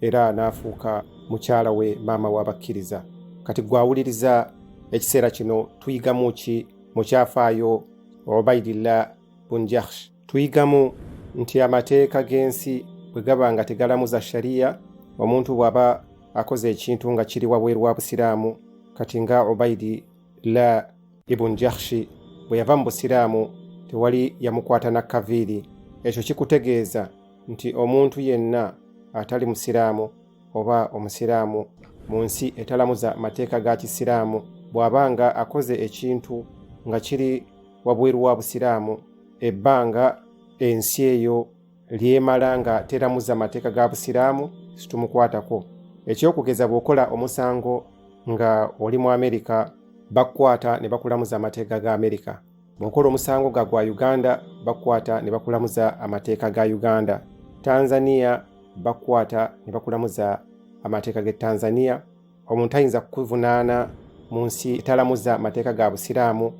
era n'afuuka mukyala we maama w'abakkiriza kati gwawuliriza ekiseera kino tuyigamu ki mu kyafaayo obaidillah bunjahsh tuyigamu nti amateeka g'ensi bwe gaba nga tegalamuza shariya omuntu bw'aba akoze ekintu nga kiri wabweru wa busiraamu kati nga obaidi la ibun jahshi bwe yava mu busiraamu tewali yamukwata na kaviiri ekyo kikutegeeza nti omuntu yenna atali musiraamu oba omusiraamu mu nsi etalamuza mateeka ga kisiraamu bw'aba nga akoze ekintu nga kiri wabweru wa busiraamu ebbanga ensi eyo lyemala nga teramuza mateeka ga busiraamu situmukwatako ekyokugeza bw'okola omusango nga oli mu amerika bakukwata ne bakulamuza amateeka ga amerika bw'okola omusango ga gwa uganda bakukwata ne bakulamuza amateeka ga uganda tanzania bakukwata ne bakulamuza amateeka g'e tanzania omuntu ayinza kukuvunaana mu nsi etalamuza mateeka ga busiraamu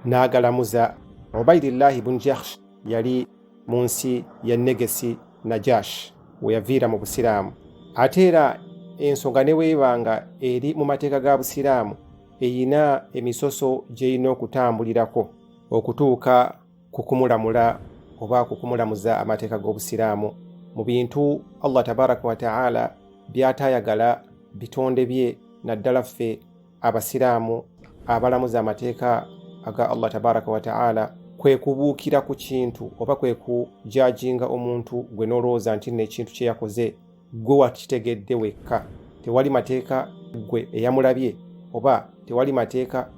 n'agalamuza obaidillaahi bun jahsh yali mu nsi ya Negesi Najash we yaviira mu Busiraamu. Ate era ensonga ne bw'eba nga eri mu mateeka ga Busiraamu erina emisoso gy'erina okutambulirako okutuuka ku kumulamula oba ku kumulamuza amateeka g'Obusiraamu mu bintu Allah tabaraka wa taala by'ataayagala bitonde bye naddala ffe abasiraamu abalamuza amateeka aga allah tabaraka wataala kwe kubuukira ku kintu oba kwe kujajinga omuntu gwe n'olowooza nti nno ekintu kye yakoze gwe wakitegedde wekka tewali mateeka gwe eyamulabye oba tewali mateeka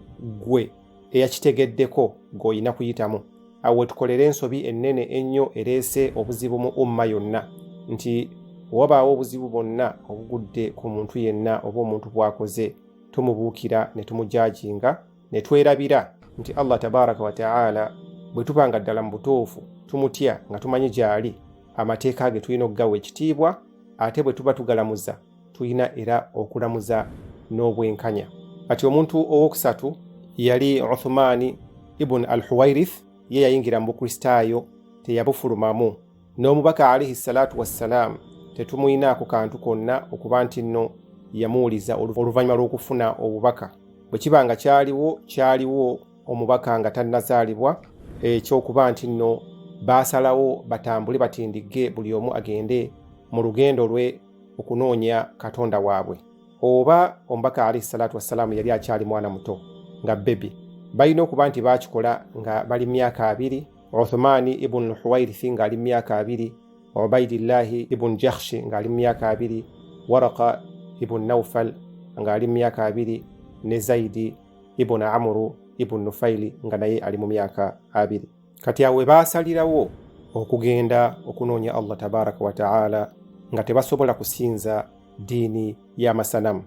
gwe eyakitegeddeko ng'olina kuyitamu awo wetukolera ensobi ennene ennyo ereese obuzibu mu umma yonna nti wabaawo obuzibu bwonna obugudde ku muntu yenna oba omuntu bwakoze tumubuukira ne tumujajinga ne twerabira nti allah tabaraka wataala bwe tuba nga ddala mu butuufu tumutya nga tumanyi gyali amateeka ge tulina okugawa ekitiibwa ate bwe tuba tugalamuza tulina era okulamuza n'obwenkanya kati omuntu owokusatu yali uthumaani ibuni al huwairith ye yayingira mu bukristaayo teyabufulumamu n'omubaka alaihi salaatu wassalaamu tetumuyinaako kantu konna okuba nti nno yamuwuliza oluvannyuma lw'okufuna obubaka bwe kiba nga kyaliwo kyaliwo omubaka nga tannazaalibwa ekyokuba nti nno baasalawo batambule batindigge buli omu agende mu lugendo lwe okunoonya katonda waabwe oba omubaka alaihi salatu wassalaamu yali akyali mwana muto nga bebi balina okuba nti baakikola nga bali myaka abiri uthumaani ibunu huwairithi ng'ali mu myaka abiri ubaidillahi ibunu jahshi ng'ali mu myaka abiri waraka ibunu naufal ng'ali mu myaka abiri ne zaidi ibunu amuru ibunu nufaili nga naye ali mu myaka abiri kati awo webaasalirawo okugenda okunoonya allah tabaraka wataala nga tebasobola kusinza ddiini y'amasanamu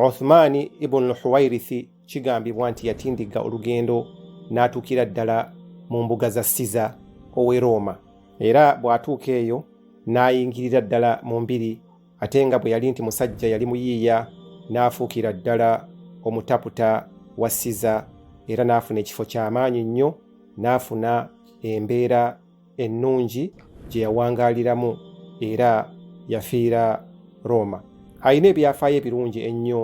uthmaani ibunu huwairithi kigambibwa nti yatindigga olugendo n'atuukira ddala mu mbuga za siza ow'e rooma era bw'atuuka eyo n'ayingirira ddala mu mbiri ate nga bwe yali nti musajja yali muyiiya n'afuukira ddala omutaputa wa siza era n'afuna ekifo ky'amaanyi nnyo n'afuna embeera ennungi gye yawangaaliramu era yafiira rooma alina ebyafaayo ebirungi ennyo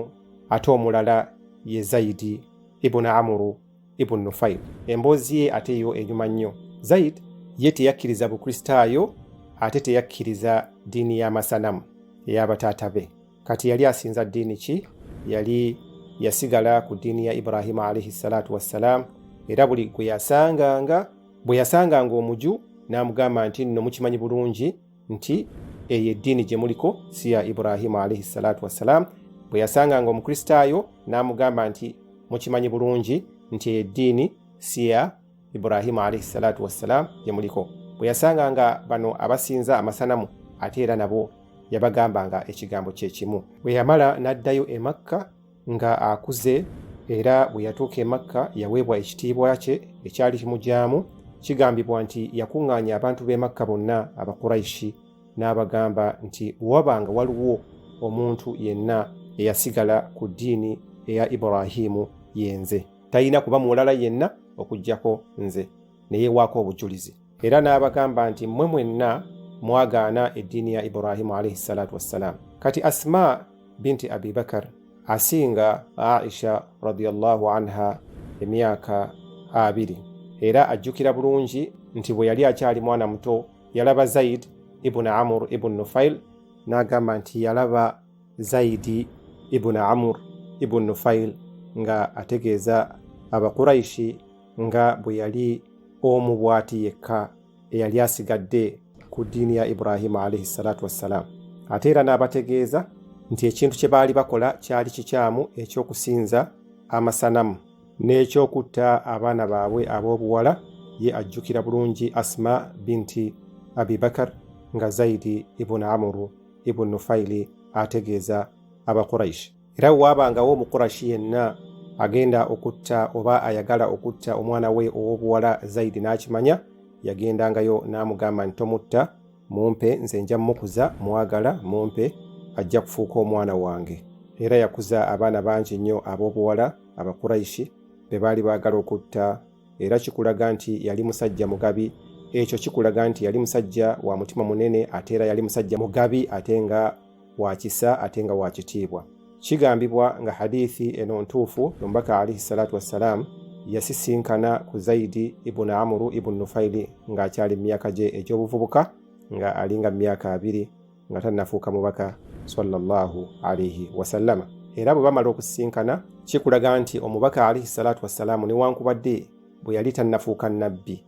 ate omulala ye zaidi ibuni amuru Ibn Nufail. Emboozi ye ate yo enyuma nnyo. Zaid ye teyakkiriza Bukristaayo ate teyakkiriza ddiini y'amasanamu ey'abataata be. Kati yali asinza ddiini ki? Yali yasigala ku ddiini ya Ibrahima alaihi salatu wassalaamu, era buli gwe yasanganga bwe yasanganga omuju n'amugamba nti nno mukimanyi bulungi nti eyo eddiini gye muliko si ya Ibrahimu alaihi salatu wassalaamu bwe yasanganga omukristaayo n'amugamba nti mukimanyi bulungi nti eyo eddiini si ya Ibrahimu alaihi salatu wassalaamu gye muliko bwe yasanga nga bano abasinza amasanamu ate era nabo yabagambanga ekigambo kye kimu bwe yamala n'addayo e Makka Nga akuze era bwe yatuuka e Makka yaweebwa ekitiibwa kye ekyali kimugyamu. Kigambibwa nti yakuŋŋaanya abantu b'e Makka bonna Abakuraishi n'abagamba nti bwe wabanga waliwo omuntu yenna eyasigala ku ddiini eya Ibrahiimu yenze, talina kuba mulala yenna okuggyako nze ne yeewaako obujulizi. Era n'abagamba nti mmwe mwenna mwagaana eddiini ya Ibrahimu alaihi salatu wassalam. Kati Asma binti Abi Bakar asinga Aisha radiyallahu anha emyaka abiri era ajjukira bulungi nti bwe yali akyali mwana muto yalaba Zaid ibn Amr ibn Nufail n'agamba nti yalaba Zaidi ibn Amr ibn Nufail nga ategeeza Abakuraishi nga bwe yali omu bw'ati yekka eyali asigadde ku ddiini ya ibrahimu alaihi salatu wassalaamu ate era n'abategeeza nti ekintu kye baali bakola kyali kikyamu eky'okusinza amasanamu n'ekyokutta abaana baabwe ab'obuwala ye ajjukira bulungi asma binti abibakar nga zaidi ibuni amuru ibuni nufaili ategeeza abaquraishi era waabangawo omukurashi yenna agenda okutta oba ayagala okutta omwana we ow'obuwala zaidi n'akimanya yagendangayo n'amugamba nti tomutta mumpe nze nja mukuza mwagala mumpe ajja kufuuka omwana wange era yakuza abaana bangi nnyo ab'obuwala abakuraishi be baali baagala okutta era kikulaga nti yali musajja mugabi ekyo kikulaga nti yali musajja wa mutima munene ate era yali musajja mugabi ate nga wa kisa ate nga wa kitiibwa kigambibwa nga hadithi eno ntuufu omubaka alaihi salatu wassalaamu yasisinkana ku zaidi ibuni amuru ibuni nufaili ng'akyali mu myaka gye egy'obuvubuka nga alinga mu myaka abiri nga tannafuuka mubaka sallallahu alaihi wasallama era bwe bamala okusisinkana kikulaga nti omubaka alaihi salatu wassalaamu newankubadde bwe yali tannafuuka nabbi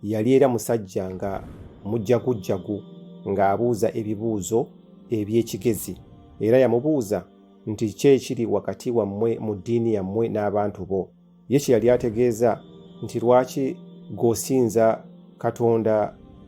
yali era musajja nga mujjagujjagu ng'abuuza ebibuuzo eby'ekigezi era yamubuuza nti ki ekiri wakati wammwe mu ddiini yammwe n'abantu bo ye kye yali ategeeza nti lwaki g'osinza katonda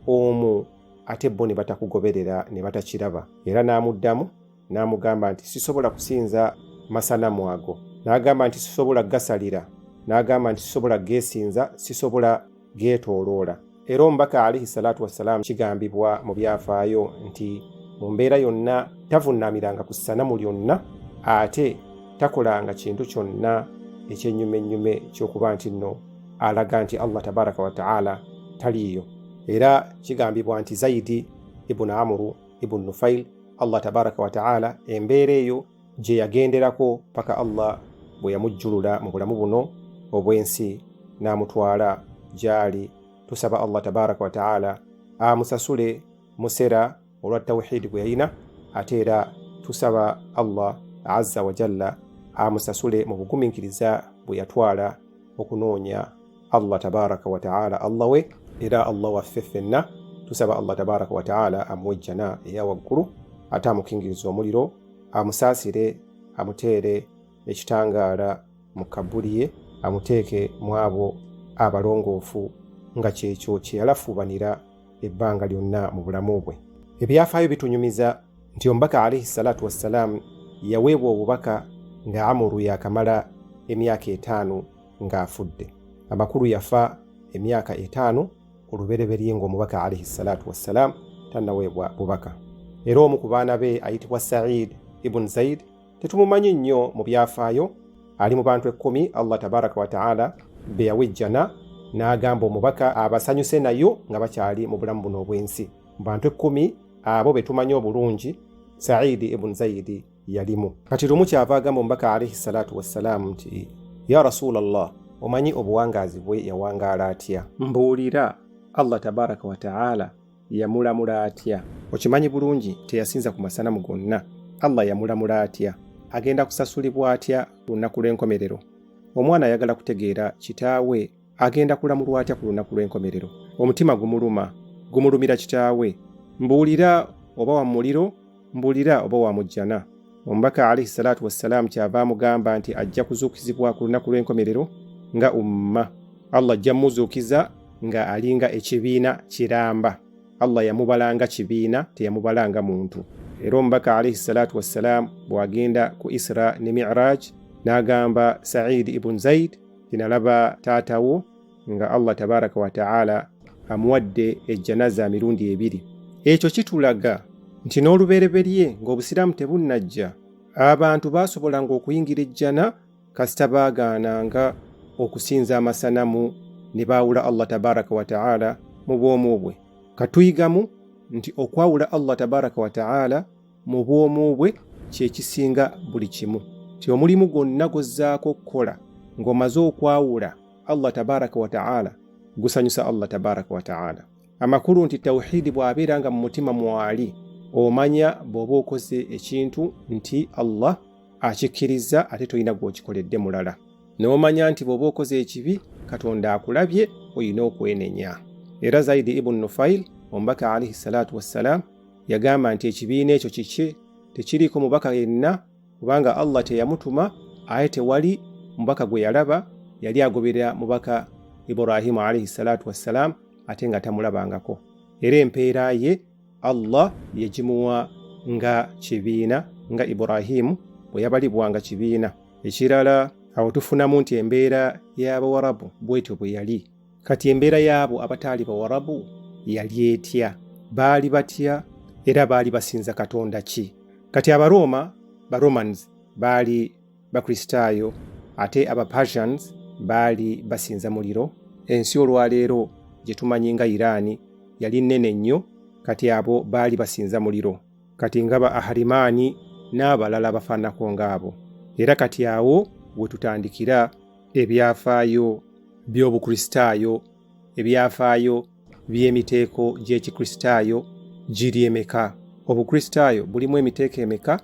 omu ate bo ne batakugoberera ne batakiraba era n'amuddamu n'amugamba nti sisobola kusinza masanamu ago n'agamba nti sisobola gasalira n'agamba nti sisobola geesinza sisobola geetooloola era omubaka alaihi salaatu wassalaamu kigambibwa mu byafaayo nti mu mbeera yonna tavunnaamiranga ku ssanamu lyonna ate takolanga kintu kyonna ekyennyumennyume ky'okuba nti nno alaga nti allah tabaraka wataala taliiyo era kigambibwa nti zaidi ibuni amuru ibn Nufail, Allah tabaraka wa taala embeera eyo gye yagenderako paka Allah bwe yamujjulula mu bulamu buno obw'ensi n'amutwala gy'ali. Tusaba Allah tabaraka wa taala amusasule musera olwa tawhidi gwe yalina ate era tusaba Allah azza wa jalla amusasule mu bugumiikiriza bwe yatwala okunoonya allah tabaraka wataala allah we era allah waffe ffenna tusaba allah tabaraka wataala amuwe ejjana eya waggulu ate amukingiriza omuliro amusaasire amuteere ekitangaala mu kabbuli ye amuteeke mu abo abalongoofu nga kyekyo kye yalafuubanira ebbanga lyonna mu bulamu bwe ebyafaayo bitunyumiza nti omubaka alaihi salaatu wassalaamu yaweebwa obubaka nga amuru yakamala emyaka etaano ng'afudde amakulu yafa emyaka etaano olubereberye ng'omubaka alaihi salatu wassalaamu tannaweebwa bubaka era omu ku baana be ayitibwa said ibuni zaid tetumumanyi nnyo mu byafaayo ali mu bantu ekkumi allah tabaraka wataala be yawa ejjana n'agamba omubaka abasanyuse nayo nga bakyali mu bulamu buno obw'ensi mu bantu ekkumi abo be tumanyi obulungi saidi ibuni zaidi yalimu kati lumu kyava agamba omubaka alaihi salatu wassalaamu nti ya rasulallah omanyi obuwangaazi bwe yawangaala atya mbuulira allah tabaraka wataala yamulamula atya okimanyi bulungi teyasinza ku masanamu gonna allah yamulamula atya agenda kusasulibwa atya lunaku lw'enkomerero omwana ayagala kutegeera kitaawe agenda kulamulwa atya ku lunaku lw'enkomerero omutima gumuluma gumulumira kitaawe mbuulira oba wa muliro mbuulira oba wa mujjana omubaka alaihi salaatu wassalaamu kyava amugamba nti ajja kuzuukizibwa ku lunaku lw'enkomerero nga umma allah ajja muzuukiza nga alinga ekibiina kiramba allah yamubalanga kibiina teyamubalanga muntu era omubaka alaihi salaatu wassalaamu bw'agenda ku isra ne miraj n'agamba saidi ibun zaid tinalaba taata wo nga allah tabaraka wataala amuwadde ejjanaza mirundi ebiri ekyo kitulaga nti n'olubereberye ng'obusiraamu tebunnajja abantu baasobolanga okuyingira ejjana kasita baagaananga okusinza amasanamu ne baawula allah tabaraka wataala mu bwomu bwe katuyigamu nti okwawula allah tabaraka wataala mu bwomu bwe kyekisinga buli kimu ti omulimu gwonna gwozzaako okukola ng'omaze okwawula allah tabaraka wataala gusanyusa allah tabaraka wataala amakulu nti tawuhidi bw'abeera nga mu mutima mwali omanya bw'oba okoze ekintu nti allah akikkiriza ate tolina gw'okikoledde mulala n'omanya nti bw'oba okoze ekibi katonda akulabye olina okwenenya era zaidi ibunu nufail omubaka alaihi salatu wassalaamu yagamba nti ekibiina ekyo kiki tekiriiko mubaka yenna kubanga allah teyamutuma aye tewali mubaka gwe yalaba yali agoberera mubaka ibrahimu alaihi salatu wassalaamu ate nga tamulabangako era empeera ye allah yagimuwa nga kibiina nga ibrahimu bwe yabalibwanga kibiina ekirala awo tufunamu nti embeera y'abawarabu bwetyo bwe yali kati embeera y'abo abataali bawarabu yali etya baali batya era baali basinza katonda ki kati abarooma baromans baali bakristaayo ate abapersians baali basinza muliro ensi olwaleero gye tumanyi nga iraani yali nnene nnyo kati abo baali basinza muliro kati nga ba aharimaani n'abalala abafaanako ng'abo era kati awo we tutandikira ebyafaayo by'obukristaayo ebyafaayo by'emiteeko gy'ekikristaayo giri emeka obukristaayo bulimu emiteeko emeka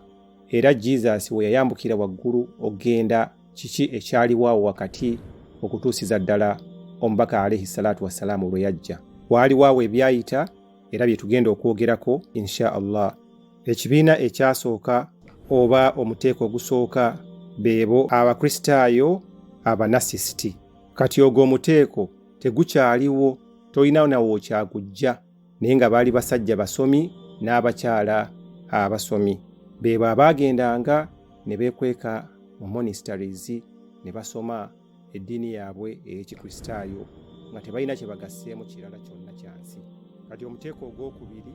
era jesus we yayambukira waggulu okugenda kiki ekyaliwo awo wakati okutuusiza ddala omubaka alaihi salaatu wassalaamu lwe yajja waaliwo awo ebyayita era bye tugenda okwogerako insha allah ekibiina ekyasooka oba omuteeko ogusooka beebo abakristaayo abanasisiti kati ogwo omuteeko tegukyaliwo tolina nawe okyagujja naye nga baali basajja basomi n'abakyala abasomi beebo abaagendanga ne beekweka mu monisitaries ne basoma eddiini yaabwe ey'ekikristaayo nga tebalina kye bagasseemu kirala kyonna kya nsi kati omuteeko ogw'okubiri